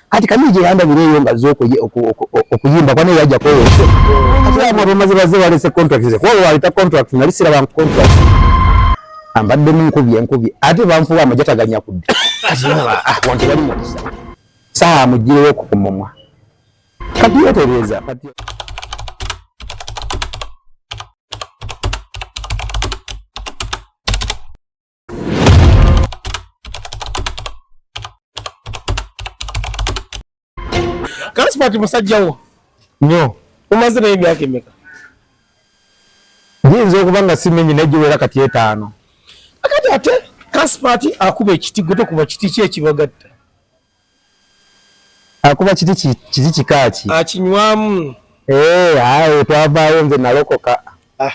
kati kamije yandabira eyo nga zokoye okuyimba kwana yaja kweyo kati abo bamaze baze balese contract ze kwao waleta contract nali sira bank contract ambadde mu nkubye nkubye ate banfuwa amajata ganya kudde kati baba ah wantu bali mu saa mujire woko kumumwa Kati yetereza kati Kasipati musajja wo nyo umaze naye emyaka emeka? Nyinza okuba nga simenyi naye giwera kati etaano. Akati ate Kasipati akuba ekiti gwe tokuba kiti ki ekibagatta? akuba kiti kiti kika ki akinywamu eh aye twavaayo nze nalokoka ah.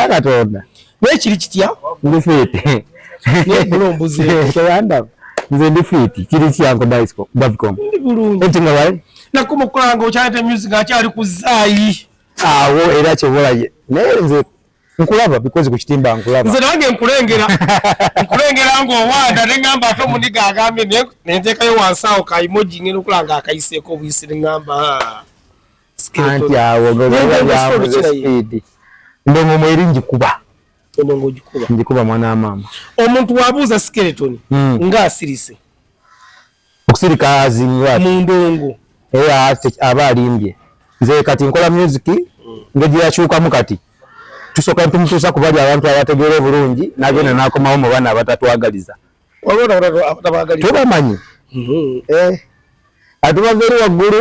katonda naye kiri kitya ndi fiiti nze ndi fiiti kiri kyanko davicom enti nga wali nakumukulanga okyaleta music akyali kuzaayi awo era kyobolaye naye nze nkulaba because ku kitimba nkulaba nze nange nkulengera nkulengera ng'owanda ne ŋŋamba ate omuniga agambye naye ne nteekayo wansi awo ka imoji ng'enda okula nga akayiseeko obuyisi ne ŋŋamba ah, anti awo gaaamuzesipiidi ndongo mu eri ngikuba endongo ogikuba ngikuba mwana wa maama omuntu wabuuza skeletoni hmm. ng'asirise okusirika azinga mu ndongo era aba alimbye nze kati nkola music ngeri yakyukamu kati tusoka tumutuusa ku bali abantu abategeera obulungi nagenda nakomawo mu baana abatatwagaliza tubamanyi mhm. eh, ati bava eri waggulu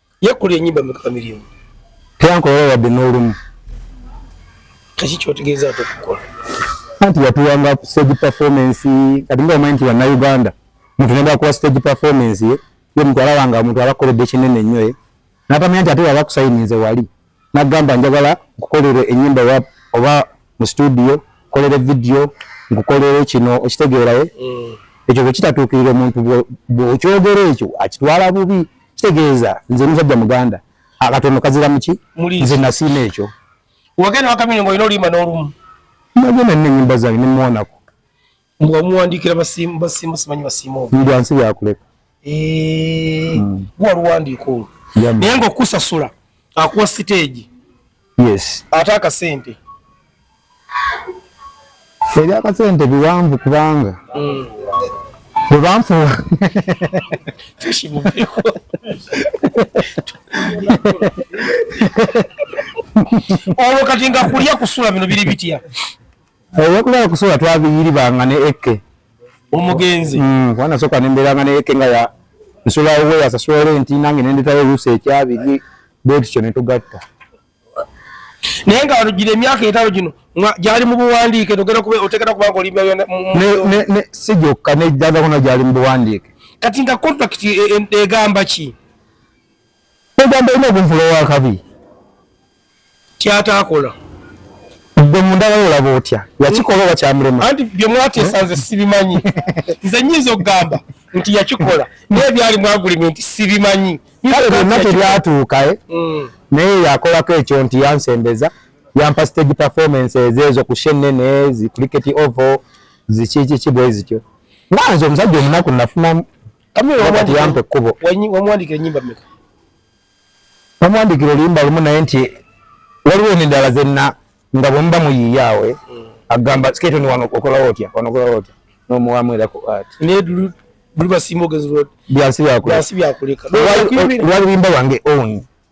Yakulira ennyimba meka Chameleone? Teyankolera wadde n'olumu. Kiki ky'otegeeza ate okukola? Anti yatuwanga stage performance kati nga omanyi nti bannayuganda muntu ne bakuwa stage performance ye ye mutwala wanga omuntu abakoledde kinene nnyo ye n'atamanya nti ate yaba akusayininze wali. Nagamba njagala nkukolere enyimba rap oba mu studio kolere video nkukolere kino okitegeeraye mm. ekyo bwekitatuukirira omuntu bwokyogera ekyo akitwala bubi kitegeeza nze musajja muganda akatono kazira muki nze nasiima ekyo wagenda wakamini ngaolina oluyimba n'olumu nagenda nina enyimba zange nemuwanako mbwa muwandiikira basiimu basiimu simanyi basiimu omu mbwa nsi yakuleka eh, hmm. guwa luwandiika olwo naye nga okusasula akuwa siteegi yes ate akasente ebyakasente biwanvu kubanga hmm. bwebanfuwa olwo kati nga kulya kusula bino biri bitya Eby'okulaba eh, kusula twabiyiribanga ne ekke omugenzi mm, kubanga nasooka ne mbeeranga ne ekke nga ya nsula owe yasasula renti nange ne ndetayo oluusi ekyabiri bwe tutyo ne tugatta naye nga gira emyaka etano gino gyali mu buwandiike togera kuba otegera kubanga oli si gyokka nejjagakona gyali mu buwandiike kati nga contract e, e, egamba ki Ogamba olina okunvula owakabi kyataakola gwe mundala olaba otya yakikola oba kyamulema anti bye mwateesa nze sibimanyi nze nyinza okugamba nti yakikola naye byali mwagulimi nti sibimanyi kale byonna tebyatuuka eh? mm. naye yakolako ekyo nti yansembeza yampa stage performance ezeezo ku shenene zi cricket ovo zikikiki bwe zityo nga nze omusajja omunaku nafunamu wamwandikira oluyimba lumu naye nti waliwo nendala zenna nga bwemuba muyiiyaawe mm. agamba sketoni wano okolawo otya wano okolawo otya nomuwamu era ku art byansi byakuleka lwaluyimba lwange own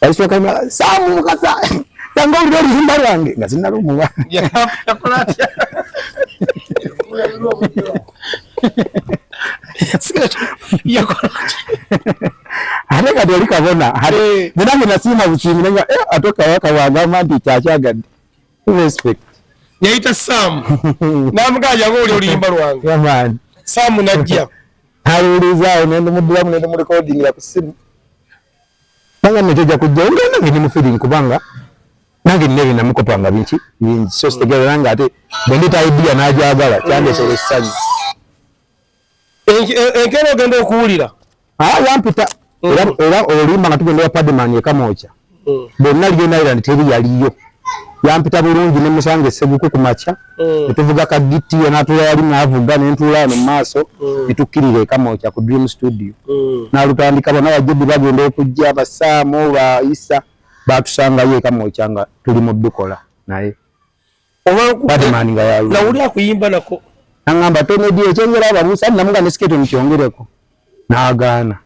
Balisooka mula Saamu Mukasa yange olina oluyimba lwange nga sinalumuwa ate kati oli kabona eh. nenange nasiima busiimi naye eh, ate kawaka wagamba nti kyakyagadde respect yayita saamu namugaa yange oli oluyimba lwange saamu najja Naliwulizaawo ne ndumuddiramu ne ndumulikodingira ku ssimu. Nanga nno kyojja kujjawo nga nange ndi mu feeling kubanga nange nina ebinamukopa nga binki bingi so sitegeera nga ate bwe ndeeta idea n'agyagala kyandeetera essanyu. Enkeera ogenda okuwulira. Ah, yampita. era mm. era olimba nga tugenda padman ekamooca mm. bonna lion island teri yaliyo yampita bulungi ne musanga eseguku ku makya mm. netuvuga ka giti yanatula yali navuga nentuula wano mu maaso netukkirira ekamooca ku dream studio nalutandika bona bajjudi bagenda okujja basaamu ba isa batusangayo ekamooca nga tuli mu bikola naye nawuli akuyimba nako nangamba tonedi ekyengera ababusa namuga ne siketo nikyongereko nagaana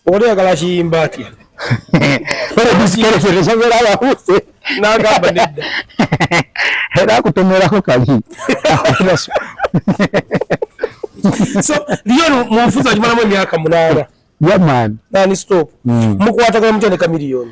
oba toyagala kiyimba atya era akutomerako kali so lion munfuza kimalamu emyaka munana yamani nani stop mukwatagana mutendeka miliyoni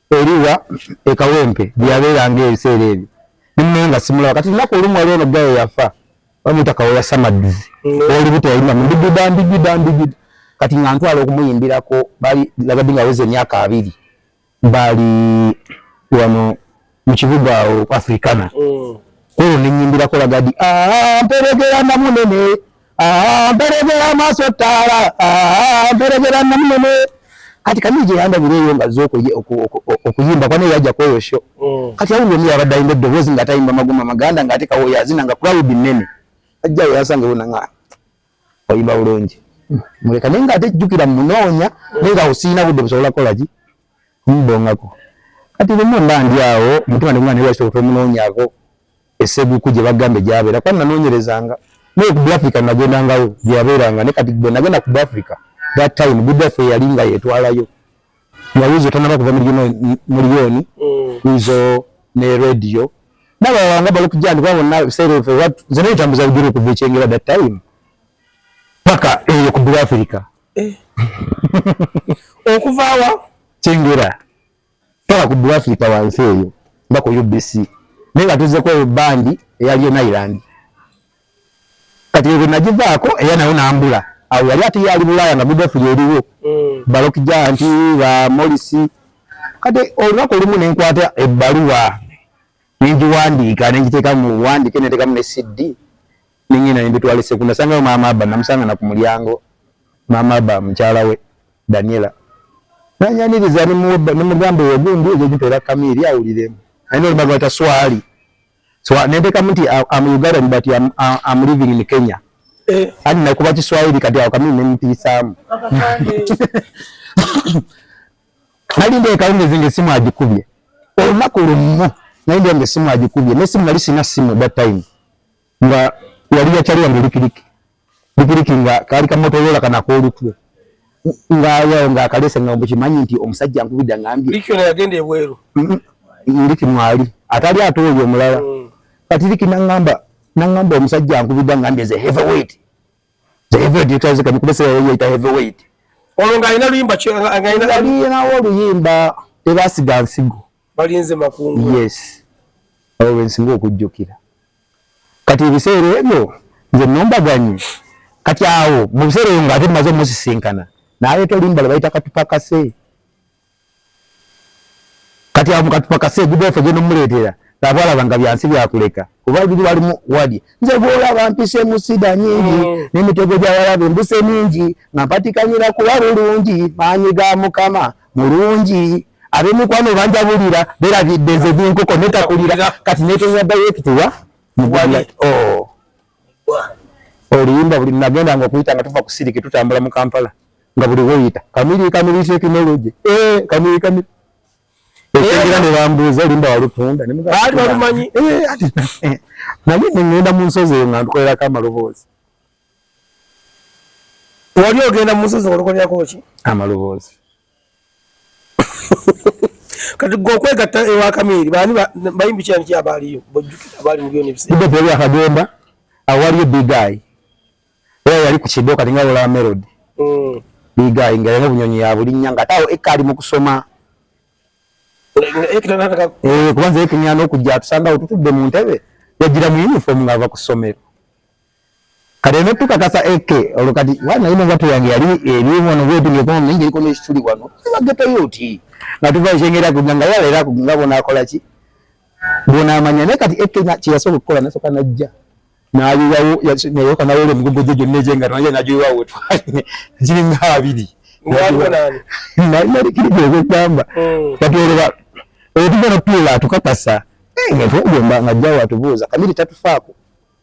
eriwa e Kawempe gye yabeeranga ebiseera ebyo ne munaye nga simulaba kati lunaku olumu waliwo no gaye yafa bamuyita kawoya samadduzi olubuto yalina mu ndigida ndigida ndigida kati nga ntwala okumuyimbirako bali lagadi nga aweza emyaka abiri bali wano mu kibuga awo africana mm. kwolwo nenyimbirako lagadi ah, mperegera namunene mperegera amaaso ttaala mperegera namunene kati kani gye yandabira eyo nga zo okuyimba kwana eyajja kweyo sho mm. kati awulira omu yabadde alina eddoboozi nga atayimba maguma maganda nga ate kawoyo azina nga crowd nnene ajjayo yasanga bona nga oyimba bulungi muleka naye nga ate jjukira munoonya mm. naye nga osiina budde busobola kukola ki mbongako kati lumu mba ndi awo mutima ndi mwana ewasobola omunonyako eseguku gye bagamba egyabeera kuba nanoonyerezanga naye ku africa nagendangawo gye yabeeranga ne kati gwe nagenda ku africa that time good africa yali nga yetwalayo yawiizo tanaba kuva muliyoni wiizo mm. ne radio nabawanga balokujandi kuba bonna ebiseera efe nze naye tambuza lugero okuva ekyengera that time paka eyo ku good africa eh. okuvawa kyengera tola ku Africa wansi eyo nga ku UBC naye nga tuzeko eyo bandi eyaliyo Nailand kati ebyo nagivaako era nayo nambula awo yali ate yali bulaaya nga midofu yeriwo mm. balokija nti ba molisi kati olunaku olumu nenkwata ebbaluwa nengiwandiika nengiteeka mu wandike netekamu ne cd ningina nembitwala eseku nasangayo maama aba namusanga na ku mulyango maama aba mukyala we daniela nanyaniriza nemugamba oyo gundi ejo gitera kamiri awuliremu alina olubaga wata swali so nentekamu nti am ugandan but am, am living in kenya eh. ani nakuba kiswahili kati awo kamiri nemutiisaamu nali ndeekawo ngezinga esimu agikubye olunaku lumu nali ndeeka nga esimu agikubye nesimu nali sina simu that time nga yali yakyali yange likiliki likiliki nga kaali kamotorola kanako olutwe nga yawo nga akalese nga mbukimanyi nti omusajja nkubidde ngambye liki ono yagenda ebweru liki mwali atali ate oyo omulala mm. kati liki nangamba nangamba omusajja nkubidde ngambye ze heavyweight ze heavyweight yetaze kani kubese yayo yeta heavyweight olwo nga alina luyimba nga alina oluyimba tebasiga nsigo balinze makungu yes awo wensinga okujjukira kati ebiseera ebyo nze nombaganyi kati awo mu biseera ebyo ngaate maze omusisinkana naleeta olimbala bayita katupakase kati awo mukatupakase egudofe genomuleetera abwalaba nga byansi byakuleka kuba biri walimu wadi nze bwolaba mpise musida nyingi mm. nemitego gyawalabe mbuse mingi nga mpatikanyira kuba bulungi maanyi ga mukama mulungi abemikwano banjabulira berabidde nze binkoko netakulira kati netenya direct wa oh. oluyimba buli nagenda nga okuyita nga tuva kusiriki tutambula mu kampala nga buli woyita kamiri kamiri tekinologi eh, kamiri kamiri ekyengera ne bambuuza olimba walutunda baali balumanyi eh, naye nengenda mu nsozi eyo nga ntukolerako amaloboozi wali ogenda mu musozi olokolerako ki amaloboozi kati gwe okwegatta ewa kamiiri baani bayimbi kyani ki abaaliyo bojjukira abaali mu byona ebiseera yali akagenda awaliyo bigayi era yali ku kido kati nga olaba melodi mm. bigayi nga yalina obunyonyi yabulinnya nga ate awo ekkaali mu kusoma eh, kubanza ekinyana okujja atusangawo tutudde mu ntebe yajjira mu yunifoomu ng'ava ku ssomero Kati eno tukakasa AK olwo kati wana ino nga tuyange yali ebimu ono bwetu nge kono ningi liko n'ekituli wano tuba geta yoti nga tuva ekyengera ku nga yala era ku nga bona akola ki bona amanya naye kati AK na kye yasooka okukola nasooka najja n'ayiwawo nayoka nawole emigogo gye gyonna egyenga naye nagiyiwawo wetwali giri nga abiri nalikiri gyegwekugamba hmm. kati olwo oyo tugenda tuula tukakasa eh, nga twegomba nga jjawo atubuuza kamiri tatufaako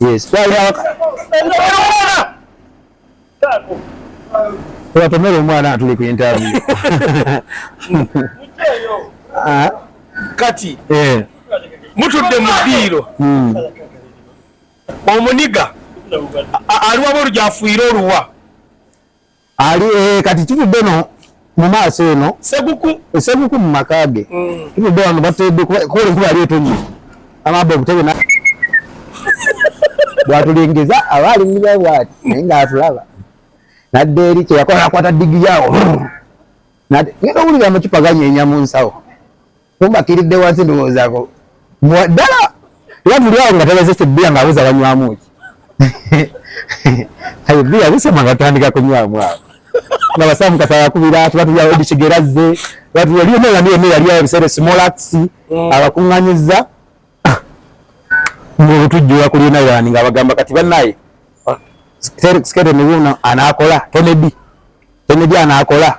Yes. Watomera omwana atuli ku interview. Ah. Kati. Eh. Mutudde mu diiro. Hmm. Omuniga. Aliwa bolu gyafuira oluwa. ali eh, kati tuvudde no mu maaso eno seguku seguku mu maka ge mm. tuvudde wano bateedde kuba enkuba yali etonye amabba obutebe na bwatulengeza aba alingiza bwati naye ng'atulaba nadde eri kyeyakola akwata digiri awo ngenda owulira amacupa ganyeenya mu nsawo Mumbakiridde wansi ndowoozaako ddala era tuli awo nga tebazese bbiya ng'abuza banywamu ki ayo bbiya busema nga tutandika kunywamu awo nga basaamu kasaba kubira tuba tuli awo edikigerazze batuyaliyo neyani yonna yali awo ebiseera esimolakisi mm. abakuŋŋanyiza ng'obutujjula kuli nayani nga bagamba kati bannaye sketo nibuna anaakola tonedi tonedi anaakola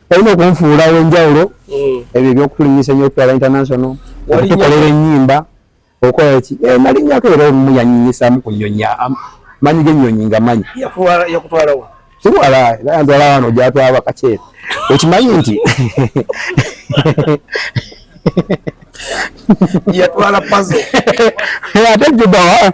olina okunfuula wenjawulo mm. ebyo ebyokutulinyisa enyo okutwala international okutukolera enyimba okola ki eh, nalinyako era olumu yanyinyisamu kunyonya manyi genyonyi nga manyi siwala antwala wano gyatwala bakaceera okimanyi nti yatwala pazo ate jubawa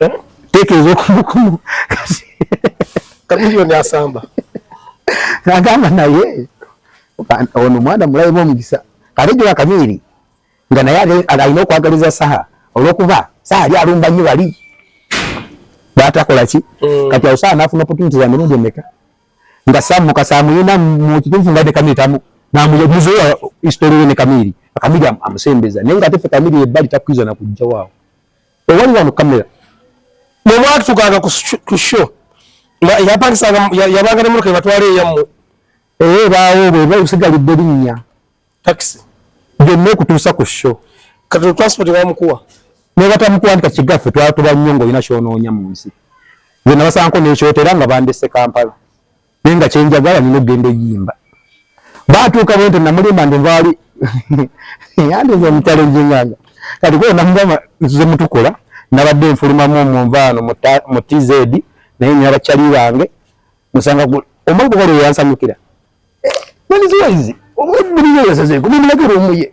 eh? tekereza okumukumu kamiliyoni asamba nagamba naye ono mwana mulayimu omukisa kale jula kamiri nga naye alina okwagaliza saha olwokuba saha ali alumba nyo bali batakola ki mm. kati awo saha nafuna opportunity za mirundi emeka nga samu kasamuyina mu kituufu nga ne kamiri tamu namuyemuzeya history ne kamiri kamiri amusembeza naye nga tefe kamiri ebbali takwiza na kujja waawo owali wano kamera bwemwatukanga ku sho yapangisanga yabanga ne motoka ebatwala eyammwe ee eh, baawo bwe basigalidde linnya takisi byonna okutuusa ku sho kati transport bamukuwa nebatamukuwandika kigaffe twatuba nnyo ngaolina kyonoonya mu nsi nze nabasaanko nekyotera nga bandese kampala naye nga kyenjagala nina okugenda eyimba batuuka bwente namulimba ndi nvaali yandiza omukyalo njinganga kati kuba namugamba nzize mutukola nabadde nfulumamu omunvaano mu tz naye nina bakyali bange musanga omugoba lwe yansanyukira maniziwaizi omubulire yasazeeko mumulagera omuye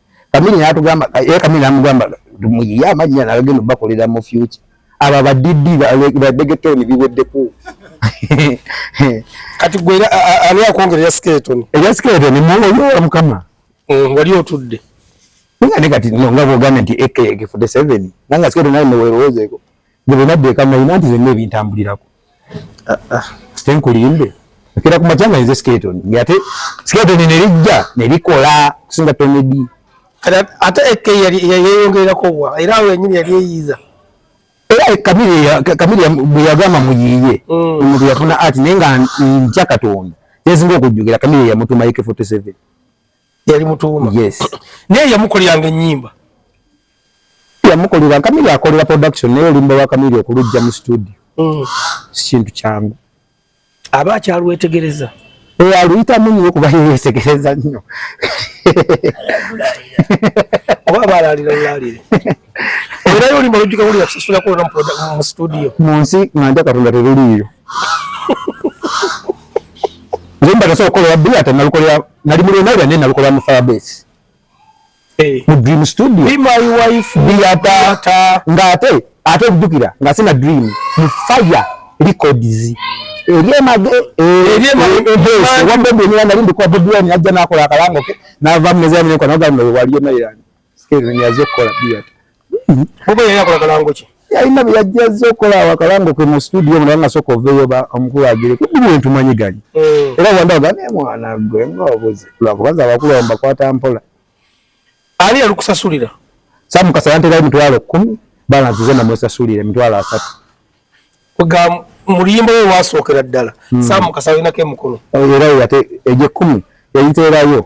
kamini natugamba ye eh, kamini namugamba muyiye amannya nagagenda bakolera mu future abo abadiddi badegetoni biweddeko kati gwe ali akwongera ya skeleton eya skeleton muwoyola mukama mm, wali otudde nga ne kati nga bwogambye nti ekk 47 nanga skeleton naye newelowoozeeko gwe bwenaddeeka nalina nti zenna ebintambulirako tenkulimbe nkera ku makya nga nze skeleton ngate skeleton ne lijja ne likola kusinga tonedi ate eke yali yeyongera ko bwa era awo yenyini yali eyiza era kamiri ya kamiri ya buyagama muyiye mm. omuntu yafuna ati nenga nja katonda yezinga okujjukira kamiri ya mutuma ike 47 yali mutuuma yes naye yamukoleranga ennyimba yamukolera kamiri akolera production naye olumba lwa kamiri okulujja mu studio mm. sikintu kyangu aba akyalwetegereza eh, aluyitamu nyo kuba yeyetegereza nnyo oba baalalira lwalire era yolimba lujjuka wulira kusasula kulona mu studio mu nsi nga nja katonda teruliiyo Zimba kaso kola wabu ate nalukola nali mulu nali ane nalukola mu firebase. Eh. Mu dream studio. Be my wife. Be ata nga ate ate kujukira nga sina dream mu fire records. Erie mage erie mage wambe bwe nali ndikuwa bidwani ajja nakola akalango ke nava mezani kwa naga mwe waliyo nali. Sikiriza nyazo kola bia. Bobo yeye akola kalango ki? Yalina bya jazo kola wa kalango ke mu studio mwana nga soko veyo ba omukulu agire. Kubi bintu manyi gani. Mm. Era wanda gani mwana gwe ngobuze. Kula kubaza abakulu amba kwata mpola. Ali alukusasulira. Samu kasayante gai mtwalo 10 balance zena mwesasulire mtwalo asatu. Kuga muliyimbo we wasokera ddala. Mm. Samu kasayina ke mukulu. Era yate eje 10 yayiterayo.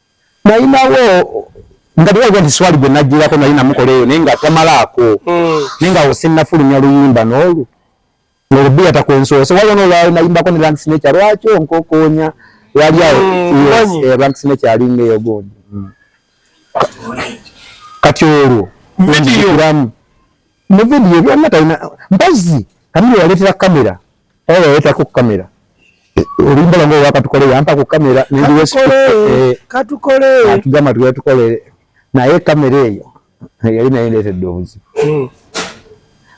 nalinawo nga tewaga nti swali gwe najjirako nali namukola eyo naye nga tamalaako hmm. naye nga osinnafulumya luyimba n'olwo nolubiya takwensoose waliwo nolwali nayimbako ne ranks nekya lwaki onkokonya yali awo hmm, eh, ranks nekyalinga eyo gundi hmm. kati olwo vidiyo mu video byonna talina mpazzi kamira yaleetera kamera oba yaleetako kamera olimbala nga owakatukole yampa ku kamera nendiwekatukole tugea tukole naye kamera eyo yali naye ndeetedde obuzibu hmm.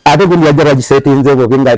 ate gundi yajja bagisetinze bobi nga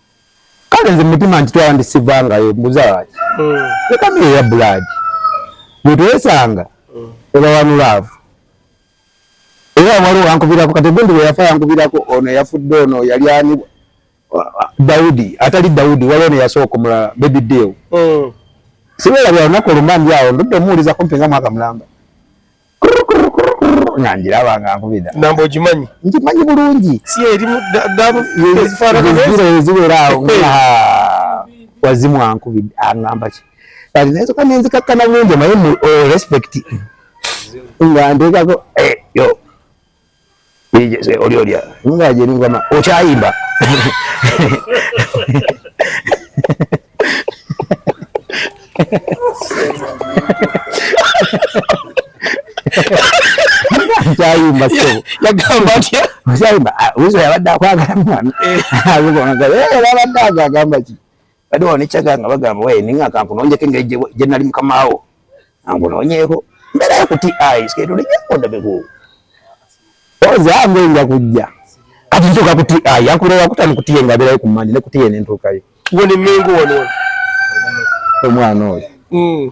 kale nze mutima nkitwala ndi sivangayo mbuzaaki leka hmm. miyo ya bulaadi bwetwesanga hmm. ebawanu laavu era waliwo wankubirako kati gundi weyafa yankubirako ono yafudde ono yali ani dawudi atali dawudi waliwo neyasooka omulala bebi deal hmm. sibeera bya lunaku olumambi awo ndudde omuwulizako mpenga mwaka mulamba nga ngiraba nga nkubira namba ogimanyi ngimanyi bulungi si erimu ezibeera awo wazimu ankubidde aŋamba ki kati naye soka nenzikakkana bulungi omaye mu oh, respect nga nteekako eh, yo oli olya nga je ngoma okyayimba kyayimba sebo yagamba atya kyayimba ah, wizo yabadde akwagala mwana eh. azikona era abadde agagamba ki Bade wano nekyaga nga bagamba waye ninga kanku nonjeke nga eje je nali mukamawo. Angu nonyeko. Mbera ya kuti eyes kedo ne jako ndabe ku. Oza angu inga kujja. Kati ntoka kuti eye yakure wakuta nikuti yenga bera ku mani nekuti yene ntoka yo. Woni mengo wano. Omwana oyo. Mm.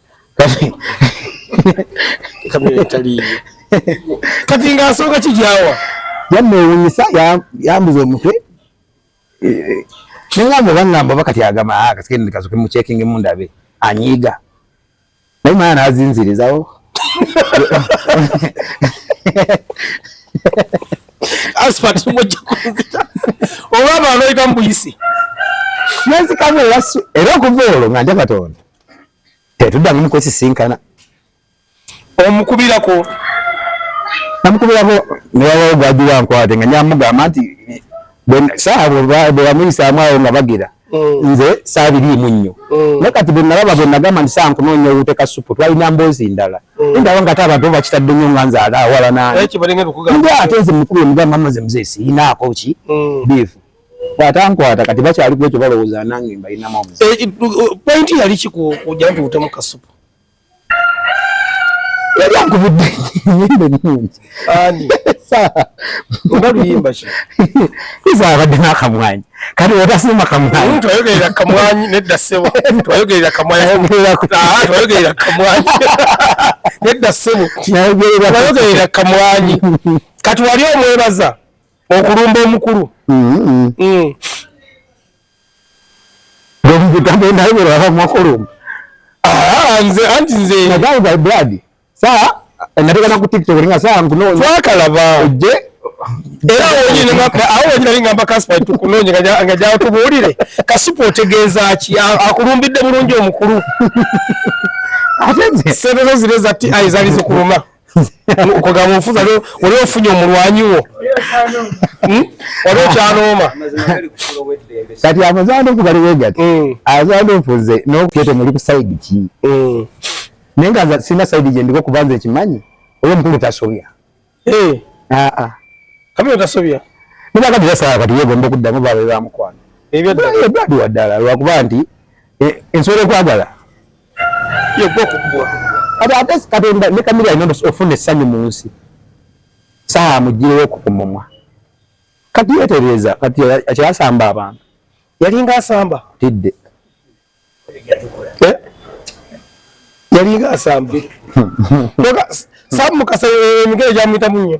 kati nga asooka kijawa yamewunyisa yambuza omutwe nengamba bangamba oba kati agamba ah, kasigende kasoke mucekinge mundabe anyiiga naye mwana nazinzirizawo asfat mujja kunzita oba abantu oyita mubuyisi nenzikamu era okuva olwo nga nja katonda tetuddamu mukwesisinkana omukubirako namukubirako newawawo gwajiwa nkwate nga nyamugamba nti saabo bwebamuyisaamu awo nga bagira mm. nze saabiriimu nnyo mm. naye kati bwenalaba bwenagamba nti saa nkunoonya owuteka supu twalina mboozi ndala mm. endaba nga ate abantu bakitadde nnyo nga nze alaawala nani ate nze mukubire mugamba maze muzee siinaako ki biifu bwatankwata kati bakyali kwekyo balowooza nange mbalinamu omuzi eh, eh, pointi yali kikuja nti utemu kasupu yali ankubudde nyimba ennungi ani oba luyimba ki iza abadde n'akamwanyi kati otasima kamwanyi twayogerera kamwanyi nedda ssebo twayogerera kamwanyi ah, twayogerera kamwanyi nedda ssebo twayogerera kamwanyi kati wali omwebaza okulumba omukulu mm-hmm. mm. ah, nze anti nze natekana ku tiktok nga saa nkunoonya twakalaba ojje era awo wenyina lingamba kaspa tukunoonya nga gyawo tubuulire kasupa otegeeza ki akulumbidde bulungi omukulu ate nze sente zo zire zati ayi zali zikuluma okugamba ofuza wali ofunye omulwanyi wo hmm? wali okyanooma kati amazanda okubaliwo gati hmm. azanda ofuze nokete muli ku saidi ki hmm. naye nga sina saidi gyendiko kuba nze ekimanyi oyo omukulu tasobya eh. ah, ah. kabiro tasobya nibakati basala kati yegomba okuddamu babe bamukwano ebyaddi waddala lwakuba nti eh, ensobola okwagala abaagezi katonda ne kamiri alina ofuna essanyu mu nsi saa mugirewo ku kumumwa kati yetereeza kati akyasamba abantu yalinga asamba tidde eh? yalinga asamba samu mukasa emigere gyamuyitamu nnyo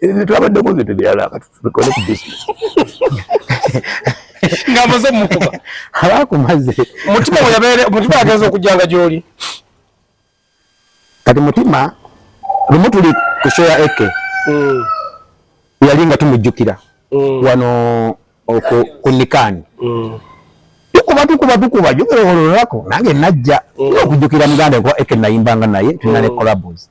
ebyo byetwabaddeko nze tebyala katutwale ku bisinesi ngamaze mukuba abakumaze mutima weyabere mutima agenza okujjanga gyoli kati mutima lumu tuli ku show ya eke mm. yali nga tumujjukira mm. wano ku nikani mm. tukuba tukuba tukuba jukirowololako nange najja okujjukira muganda eke nayimbanga naye tulina ne collabos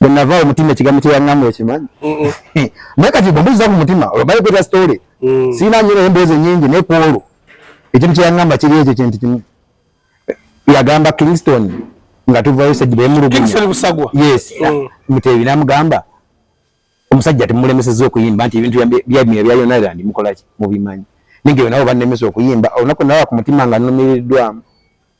bwe nava awo mutima ekigambo kye yaŋŋamba okimanyi naye kati bwe mbuuza ku mutima olwo bali kweta sitoole mm. sirina nnyo naye emboozi ennyingi naye ku olwo ekintu kye yaŋŋamba kiri ekyo kintu kimu yagamba kingston nga tuvayo sedi bemuluguyes mm. muteebi namugamba omusajja temulemeseza okuyimba nti ebintu byamira bya yonaland mukolaki mubimanyi nige nabo banemesa okuyimba olunaku nawa ku mutima nga numiriddwamu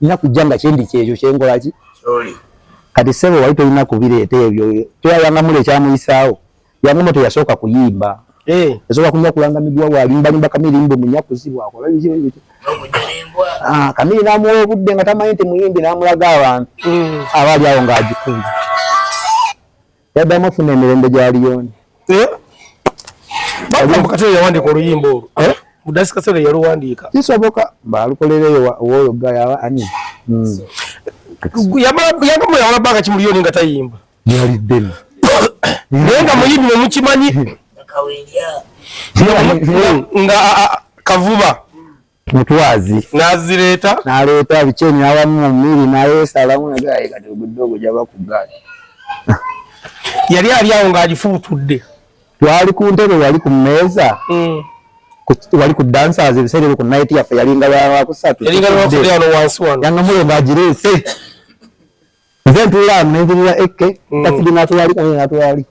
nina kujja nga kyendi kyekyo kyenkolaki kati sebo wali tolina kubireeta ebyo toyayanga mula ekyamuyisaawo yangomo teyasooka kuyimba eh. yasooka kunya kulanga miguwa walimbalimba kamiri mbu munyakuzi bwakola ah, kamiri namuwa obudde nga tamanyi nti muyimbi namulaga abantu mm. abaali awo ngaagikubye yaddamu ofuna emirembe gya liyoni eh? yawandika oluyimba olwo eh? mudasi kasera yaluwandiika kisoboka balukolereyo woyo gayaba ani hmm. yamuyawala banga ki muliyoni nga tayimba yali deni naye nga muyimbi nemukimanyi nga kavuba mutwazi nazireeta naleeta bikyeni awamu mu mmiri nayesalamu nagaye kati ogudde ogwo gyaba ku gaali yali ali awo ng'agifubutudde twali ku ntebe wali ku mmeeza mm. wali ku dancers ebiseera ebyo ku night yaffe yalinga lwakusatu yanga mulongo agireese nze ntuulamu nenjirira ekke mm. kafidi natulaliko naye natulaliko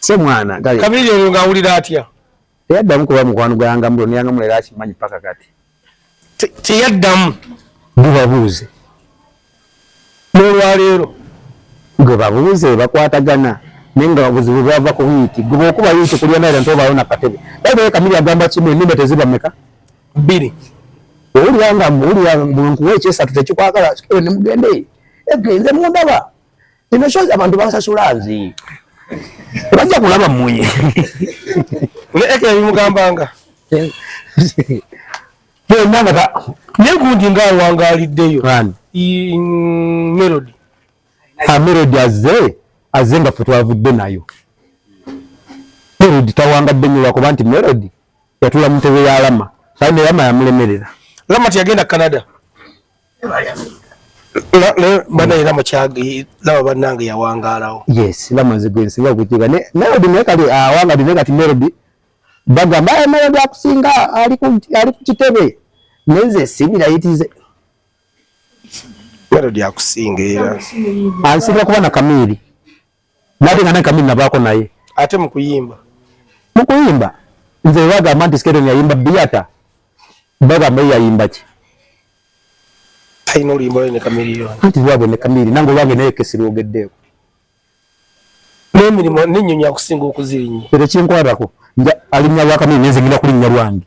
se mwana gayo kabiri oyo nga awulira atya teyaddamu kuba mukwano gwanga mbulo neyanga mulera akimanyi paka kati teyaddamu bubabuuze n'olwaleero gwe babuuze bakwatagana naye nga babuzibu bwava ku wiiki gwe bwokuba wiiki kulya naera nti obaawo nakatebe baibale kamiri agamba kimu enumba teziba meka bbiri owulira nga muwulira mbu nkuwa ekyesatu tekikwagala sikebe nemugendeyo egenze mundaba Ino show abantu bansasula nzi. Bajja kulaba mmunye. Ule eke ya mugambanga. Yo nanga ka. Nyegundi nga wangalidde yo. Bani. I mm, melody. Ha melody azze. Azze nga ffe twavudde nayo. Melody tawangadde nnyo lwakuba nti melody yatula mu ntebe ya Lama. Kandi Lama yamulemerera. Lama teyagenda Canada. bana era mukyagi laba banange yawangaalawo yes lama nze gwe nsinga okukiga ne melody naye kati awanga dine kati melody bagamba aye melody akusinga ali ku ali ku kitebe nenze sibira yitize melody akusinga era ansinga kuba na kamiri nate nga nankamini nabaako naye ate mukuyimba mukuyimba nze bagamba nti sketon yayimba biyata bagamba yayimba ki talina oluyimba lwe ne kamiliyoni anti lwabwe ne kamiri nange olwange naye kesi lwogeddeko n'emirimu n'ennyonyi akusinga okuzirinya ekyo kinkwatako alinya lwa kamiri nenze ngina kulinnya lwange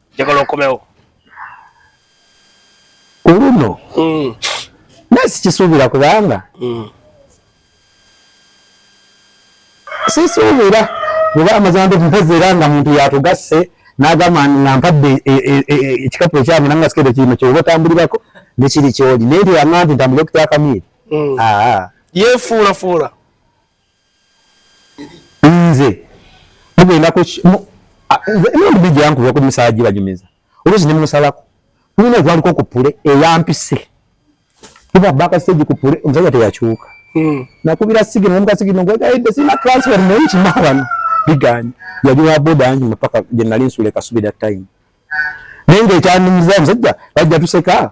njagala okomewo kuluno mm. naye sikisuubira kubanga mm. sisuubira kuba amazima ndomukozi era nga muntu yatugasse nagamba nga mpadde e, e, e, ekikapu ekyange nanga sikede kirimo kyoba otambulirako nekiri kyoli naye teyanga nti ntambulire okutyakamiiri mm. yefuulafuula nze mugenda ku emirundu mingi yankuba ku misala gibanyumiza oluusi ne musalako tulina ogwaliko ku pule eyampise kuba baka stage ku pule omusajja teyakyuka hmm. nakubira sigino namuka sigino ngwegayidde sina transfer muyiki mawano biganye yali wa boda yange mupaka gye nali nsula ekasubira time naye ngaekyandimuza omusajja bajja tuseka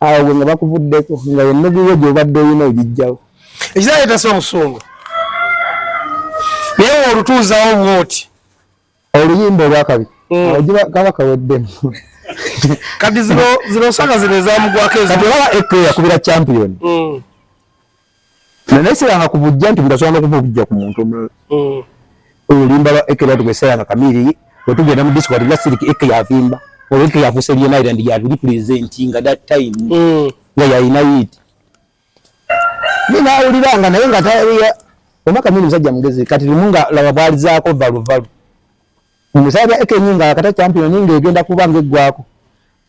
awo gwe nga bakuvuddeko nga ennugu yo gyobadde olina ogijjawo ekizaayo tasa omusungu naye olutuuzawo bwoti oluyimba olwakabi mm. awo kaba kaweddemu kati zino zino saka zino ezamugwako ezo kati olaba ekwe yakubira champion mm. naye siranga ku bujja nti bulasobola nokuva obujja ku muntu omulala mm. oyo olimba lwa eke lwatu gwesiranga kamiri wetugenda mu disco atubula siriki eke yavimba oba eke yafuusa ebyemayira ndi yabiri pulezenti nga that time mm. nga yalina yiti ye nawuliranga naye nga taya oma kamiri musajja mugezi kati limu nga laba bwalizaako valuvalu omusajja eke nyinga akata champion ninga egenda kuba nga eggwako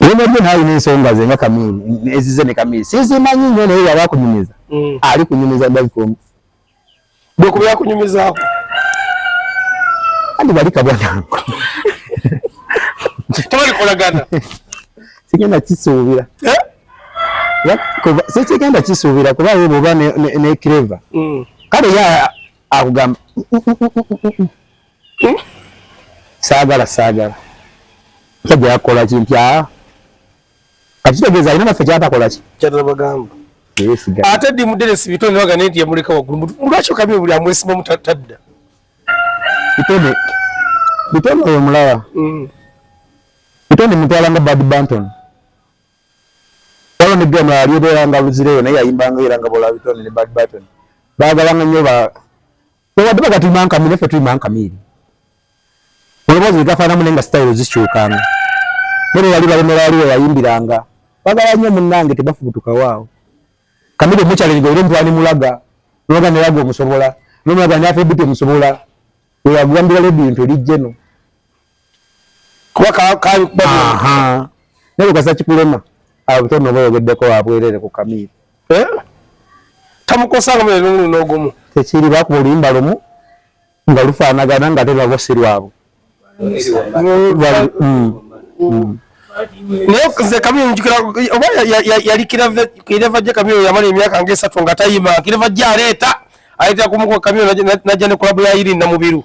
Wema je nayo ni nsonga ze nga kamili ezize ne kamili sisi manyi nyo naye yaba kunyumiza mm. ali kunyumiza dai komu bwe kuba yakunyumiza ako andi bali kabwa nangu tawali kolagana sigenda kisuubira eh? sikigenda kisuubira kuba ye bwoba ne clever mm. kale ye akugamba hmm? saagala saagala kyajja yakukola ki nti aa akitegeeza alina naffe kyatakola ki kyatabagamba ate ddi muderesi bitone waga nenti yamuleka waggulu lwaki okamye buli amwesimamu tadda bitone bitone oyo mulaba hmm. bitone mutwala nga bad banton waliwo nebiano yali ebeera nga luzireyo naye yayimbanga era nga bola bitone ne bad banton baagalanga nnyo ba Wadde baga tuli mankamiiri, naffe tuli mankamiiri. Olowooza egafaanamu naye nga sitayiro zikyukanga. Naye yali balemera wali we yayimbiranga. Bagala nnyo munnange tebafubutukawo awo. Kamiri omukyalirigo era omutwala ne mulaga. Mulaga ne laga omusobola. Nomulaga ne afeebiti omusobola. Oyo agambira ledi nti oli jeno. kuba kakuba naye kasa kikulema abo bitono oba oyogeddeko wabwerere ku kamiiri eh? tamukosanga mwe nulu nogumu tekiri bakuba oluyimba lumu nga lufaanagana nga te lwabo si lwabo mm, mm. naye nze kamiyo njukira oba yali kireva gye kamiyo yamala emyaka nga esatu nga tayima kireva gye aleeta aleetera kumukuba kamiyo najja ne kulabu ya iri namubiru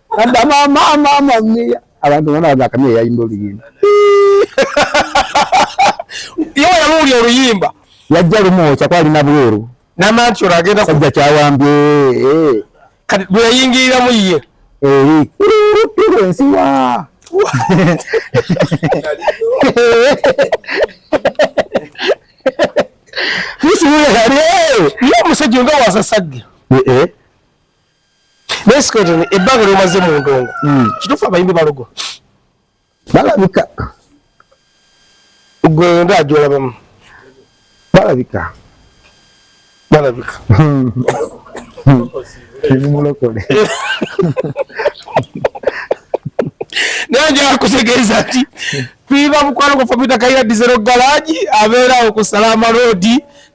Kanda mama mama mia. Abantu bana bagakamye yayimba oluyimba. Yo yamuli oluyimba. Yajja lumo chakwali na bweru. Na mancho ragenda kujja chawambye. Eh. Kati bwe yingira mu ye. Eh. Nsiwa. Kusi yari. Yo musajja nga wasasagge. Eh eh. naye sikweto ebbanga lyomaze mu ndongo hmm. kituufu abayimbi balogo balabika gwe nga ajolabamu balabika balabika hmm. Hmm. ebimulokole naye njakutegeeza nti Viva mukwano gwa Fabita Kayiira Dizero Garage abeerawo ku Salaama Road.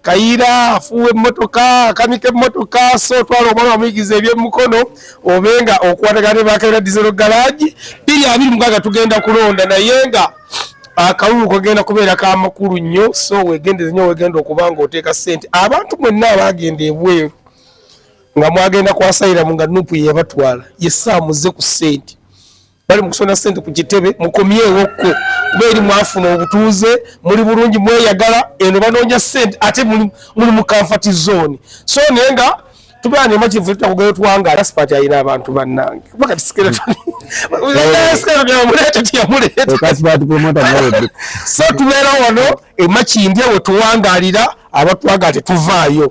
Kayiira afuuwa emmotoka, akanika emmotoka, so twala omwana wamuyigiza ebyemmukono obe nga okwatagana ne ba Kayiira Dizero Garage. Bbiri abiri mukaaga tugenda kulonda naye nga akalulu kagenda kubeera ka makulu nnyo, so weegendeze nnyo weegenda okuba ng'oteeka ssente. Abantu mwenna abaagenda ebweru nga mwagenda kwasayiramu nga nupu yeyabatwala ye saamuze ku ssente. bali mukusona sente ku kitebe mukomyewo ko kuba eri mwafuna obutuuze muli bulungi mweyagala eno banoonya sente ate muli mu kanfati zooni so naye nga tubeera nemativu tutakugayo twanga aspati ayina abantu bannange so tubeera wano emakindya wetuwangalira abatwagala tetuvaayo